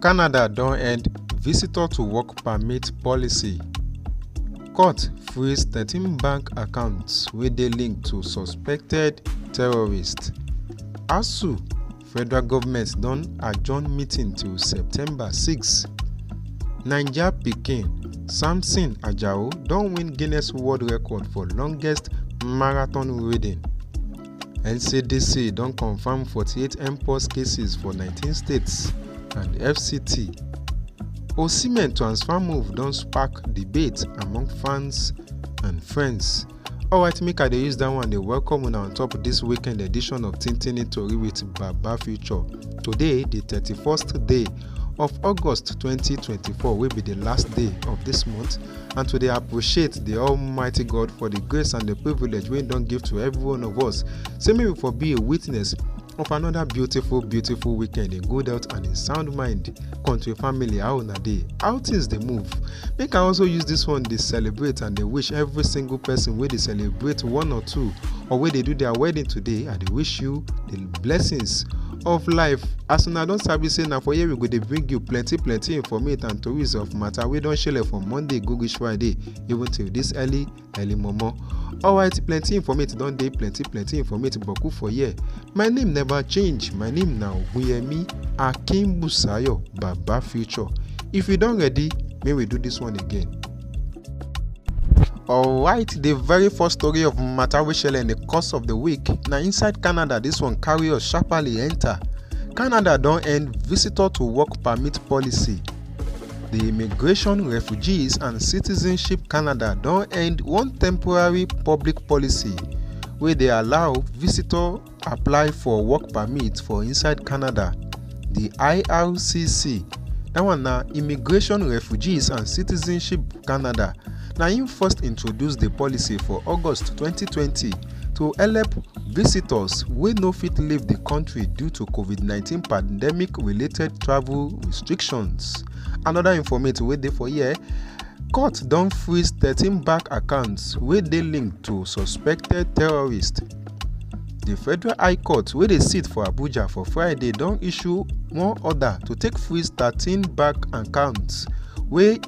canada don end visitor to work permit policy court freeze thirteen bank accounts wey dey linked to suspected terrorists asuu federal goment don adjourn meeting till september 6 naija pikin samson ajao don win guinness world record for longest marathon riding ncdc don confam 48 mpox cases for 19 states and fct osimhen transfer move don spark debate among fans and friends alright make i dey use dat one dey welcome una on top dis weekend edition of tintini tori with baba future today di 31st day of august 2024 wey be di last day of dis month and to dey appreciate the almighty god for the grace and the privilege wey don give to every one of us say make we for be a witness of another beautiful beautiful weekend in good health and in sound mind country family how una dey how things dey move make i also use this one dey celebrate and dey wish every single person wey dey celebrate one or two or wey dey do their wedding today i dey wish you the blessings of life as una don sabi say na for here we go dey bring you plenty plenty informate and tories of matter wey don shele from monday go reach friday even till this early early momo alright plenty informate don dey plenty plenty informate boku for here my name never change my name na ogunyemi akinbusayo baba future if you don ready make we do this one again. alright the very first story of matter wey shele in the course of the week na inside canada this one carry us sharply enter canada don end visitor to work permit policy the immigration refugees and citizenship canada don end one temporary public policy wey dey allow visitor apply for work permit for inside canada di ircc dat one na immigration refugees and citizenship canada na im first introduce di policy for august 2020 to help visitors wey no fit leave di kontri due to covid-19 pandemic related travel restrictions anoda informate wey dey for here court don freeze thirteen bank accounts wey dey linked to suspected terrorists. di federal high court wey dey sit for abuja for friday don issue one order to take freeze thirteen bank accounts wey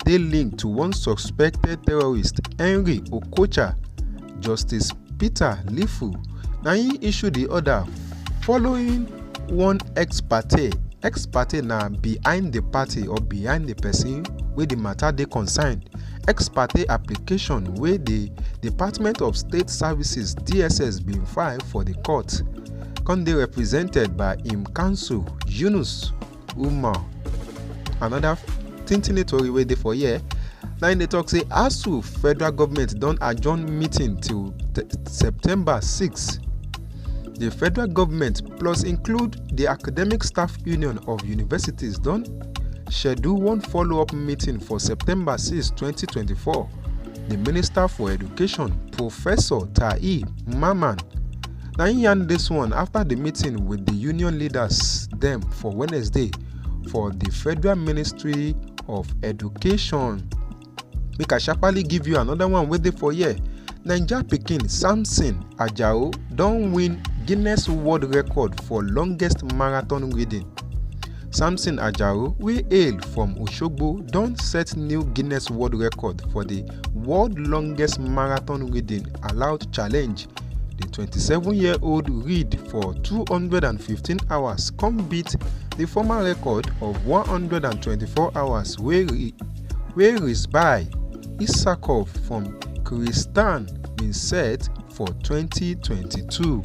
dey linked to one suspected terrorist henry okocha justice peter lifu na im issue di order following one ex parte ex parte na behind di party or behind di pesin wey di mata dey concerned ex parte application wey di department of state services dss bin file for di court come dey represented by im counsel yunus umar anoda tintin tori wey dey for here na im dey tok say asuu federal goment don adjourn meeting till september 6 di federal goment plus include di academic staff union of universities don. schedule one follow-up meeting for september 6 2024 di minister for education professor taye mamman na im yarn dis one afta di meeting wit di union leaders dem for wednesday for di federal ministry of education. make i sharparly give you another one wey dey for here naija pikin samson ajao don win guinness world record for longest marathon reading samson ajao wey hail from osogbo don set new guinness world record for di world longest marathon reading allowed challenge di 27-year-old read for 215 hours come beat di former record of 124 hours wey wey rizbae isakov from kyrgyzstan bin set for 2022.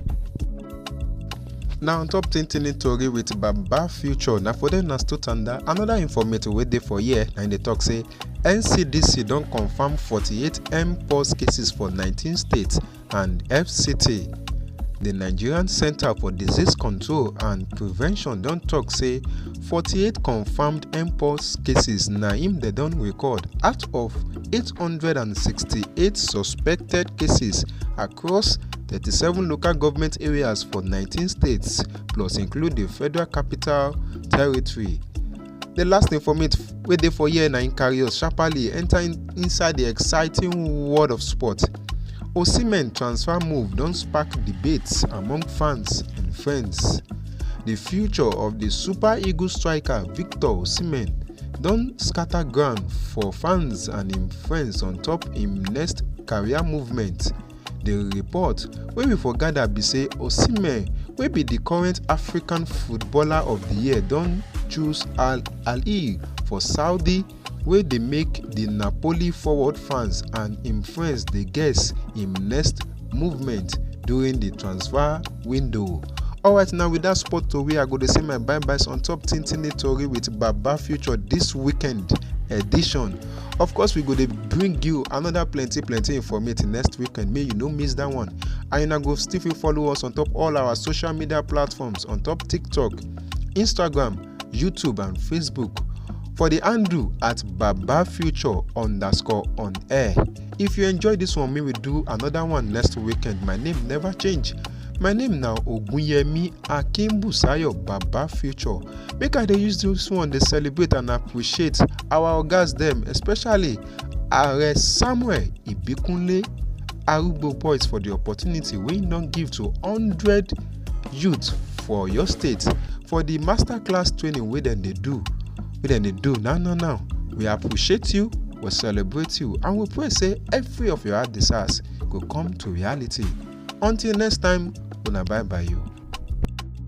na on top tintini tori with baba future na for dem na still tanda anoda informate wey dey for here na im dey tok say ncdc don confam 48 mpox cases for 19 states and fct di nigerian centre for disease control and prevention don tok say 48 confirmed mpox cases na im dem don record out of 868 suspected cases across 37 local government areas for 19 states plus include di federal capital territory. The last informate wey dey for here na im carry us sharply enter in, inside the exciting world of sport. Osimhen transfer move don spark debates among fans and friends. The future of the Super Eagles striker Victor Osimhen don scatter ground for fans and im friends on top im next career movement di report wey we for gada be say osimhen wey be di current african footballer of di year don choose al ahly for saudi wey dey make di napoli forward fans and im friends dey guess im next movement during di transfer window. alright now with dat sport tori i go dey say my bye byes on top tintini tori with baba future dis weekend edition of course we go dey bring you another plenty plenty informative next weekend make you no miss that one and una go still fit follow us on top all our social media platforms on top tiktok instagram youtube and facebook for the handle at baba future underscore on air if you enjoy this one make we do another one next weekend my name never change my name na ogunyemi akimbusayo baba future make i dey use this one dey celebrate and appreciate our ogas dem especially are samuel ibikunle arugbo boys for the opportunity wey im don give to hundred youth for oyo state for the master class training wey dem dey do wey dem dey do now now now we appreciate you we celebrate you and we pray say every of your heart desires go come to reality until next time una bye bye you.